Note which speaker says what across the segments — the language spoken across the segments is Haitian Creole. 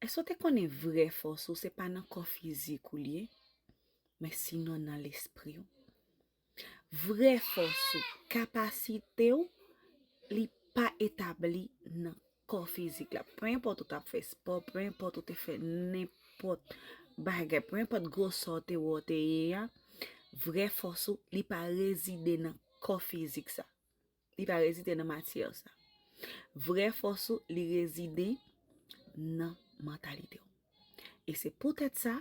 Speaker 1: Èske w te konnen vrè fòs ou se pa nan kò fizik ou li ye, men sinon nan lespri w? Vrè fòs ou, kapasite w, li pa etabli nan kò fizik la. Pe enpòt ou t ap fè espò, pe enpòt ou te fè nenpòt bagay, pe enpòt gwosè w te wè w te ye a, vrè fòs ou li pa rezide nan kò fizik sa. Li pa rezide nan matyè w sa. Vrè fòs ou li rezide nan mantalite w. E se poutèt sa,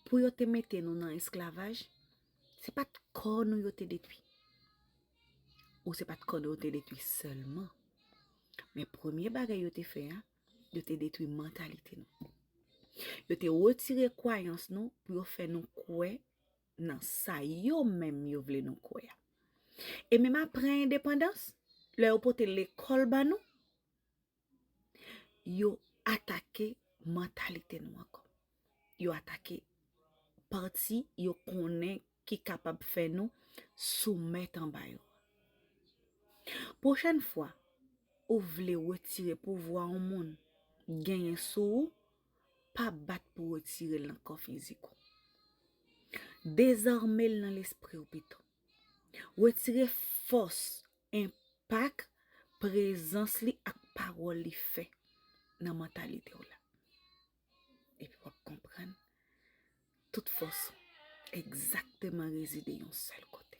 Speaker 1: pou yo te mete nou nan esklavaj, se pa t kò nou yo te detwi. Ou se pa t kò nou yo te detwi sèlman. Men premye bagay yo te fè a, yo te detwi mantalite nou. Yo te retire kwayans nou pou yo fè nou kwè nan sa yo menm yo vle nou kwè a. E menm apre endepandans, lè yo pote lekòl ban nou, yo atake mantalite nou ankò. Yo atake pati yo konnen ki kapab fè nou soumèt anba yo. Pwochèn fwa ou vle wetire pouvwa yon moun genyen sou ou, pa bat pou retire l nan kò fizik ou. Dezame l nan lespri w pito. Retire fòs, enpak prezans li ak pawòl li fè nan mantalite w la. Epi w ap konprann tout fòs ou egzakteman rezide yon sèl kote.